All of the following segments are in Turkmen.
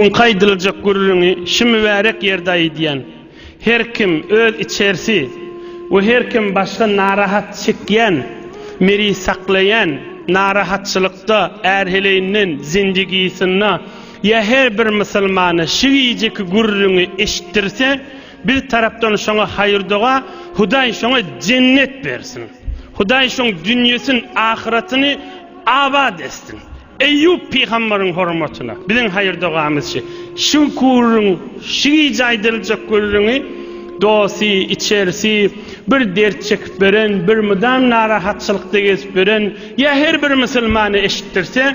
Öňki aýdyljak gürrüňi şu mübärek ýerde aýdýan. Her kim öz içersi we her kim başga narahat çekýän, miri saklaýan narahatçylykda ärheleýinden zindigisynda ýa her bir musulmana şu gijeki gürrüňi eşitdirse, biz tarapdan şoňa haýyrdoga, Hudaý şoňa jennet bersin. Hudaý şoň dünýesin, ahyratyny abat etsin. Eýýup pygambaryň hormatyna biziň haýyr-dogamyzçy Şüküriň şu gije aýdyljak gürrüňi dosy, içerisi bir dert çekip ýören, bir mydam narahatçylykda gezip ýören ýa her bir musulmana eşitdirse,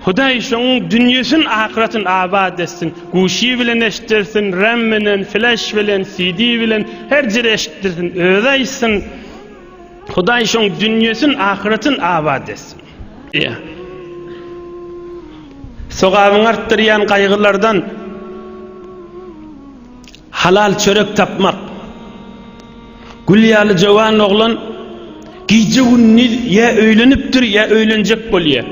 Hudaý şoň dünýesin, ahyratyn abat etsin, guşy bilen eşitdirsin, ram bilen, flaş bilen, CD bilen, her jere eşitdirsin, özi aýtsyn. Hudaý şoň dünýesin ahyretin abat etsin. Diýä. Sogabyňy artdyrýan gaýgylardan halal çörek tapmak. Gül ýaly jowan oglan gije günniz ýa öýlenipdir ýa öýlenjek bolýar.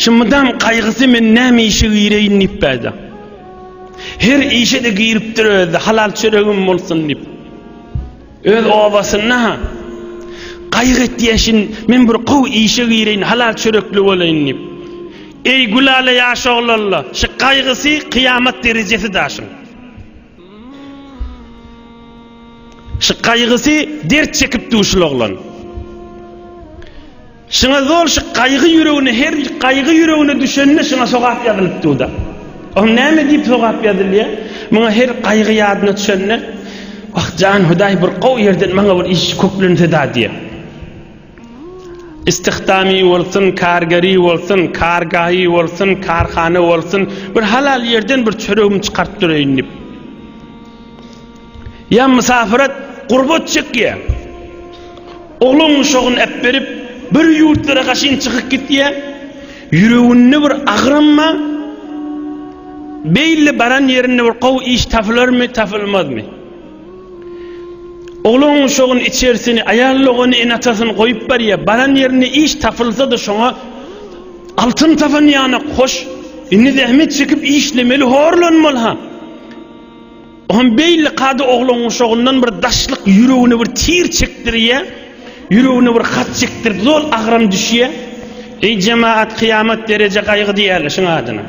Şu mydam gaýgysy men näme işe gireýin diýip bäde. Her işe de giripdir özi halal çöregim bolsun diýip. Öz obasynda-ha gaýyk etýäşin, men bir gowy işe gireýin, halal çörekli bolaýyn diýip. Eý, Gülala ýaş oglalla, şu gaýgysy kyýamat derejesi daşyň. Şu gaýgysy dert çekipdi şul oglan. Şyňa zol şy gaýgy ýüregine her gaýgy ýüregine düşende şyňa sogap ýazylyp duda. Oň näme diýip sogap ýazylýa? Muňa her gaýgy ýadyna düşende Wah jan Hudaý bir gowy ýerden maňa bir iş köklenseda diýe. Istihdamy bolsun, kargeri bolsun, kargahy bolsun, karhana bolsun, bir halal ýerden bir çöregimi çykaryp döreýin diýip. Ýa mysafirat gurbat çekýä. Oglan uşagyny äpberip, bir ýurtlara gaşyn çykyp gitýä. Ýüreginde bir agramma, beýle baran ýerinde bir gowy iş tapylarmy, tapylmazmy? Oglan uşagyny içersini, aýal dogany ene-atasyny goýup barýa. Baran ýerinde iş tapylsa-da şoňa altyn tapan ýanak, hoş, indi zähmet çekip işlemeli, horlanmaly-ha. Bu hem beýle kada oglan guşagyndan bir daşlyk ýüregine bir tir çekdirýä, ýüregine bir hat çekdirdi, zol agram düşýä. Eý jemaat kyýamat dereje gaýgy diýýärler şuň adyna.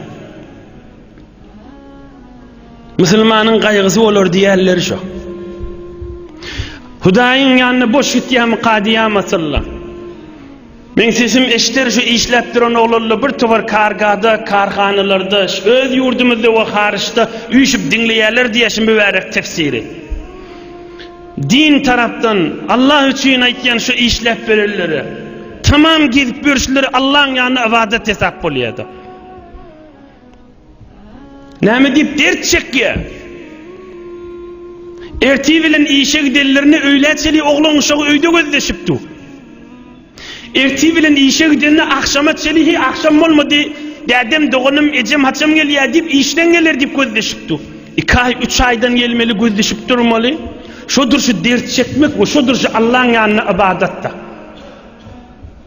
Musulmanyň gaýgysy bolar diýýärler şo. Hudaýyň ýanyna boş gitýärmi kadyýam asyllar. Meň sesim eşder şu işläp duran oglanla bir tobar kargada, karhanalarda, şu öz ýurdumyzda we haryçda üýşüp diňleýärler diýýär şu mübärek tefsiri. Din tarapdan Allah üçin aýtýan şu işläp berenlere tamam gezip ýörüşleri Allaň ýanynda ybadat hesap bolýada. Näme diýip dert çekýär? Ertir bilen işe gidenlerine öýlä çenli oglan uşagy öýde gözleşip dur. Ertir bilen işe gidende agşama çenli he agşam bolmady, dädem, doganym, ejem haçan gelýär diýip işden geler diýip gözleşip dur. Iki aý, üç aýdan gelmeli gözleşip durmaly. Şodur şu dert çekmek we şodur şu Allaň ýanyna ybadat-da.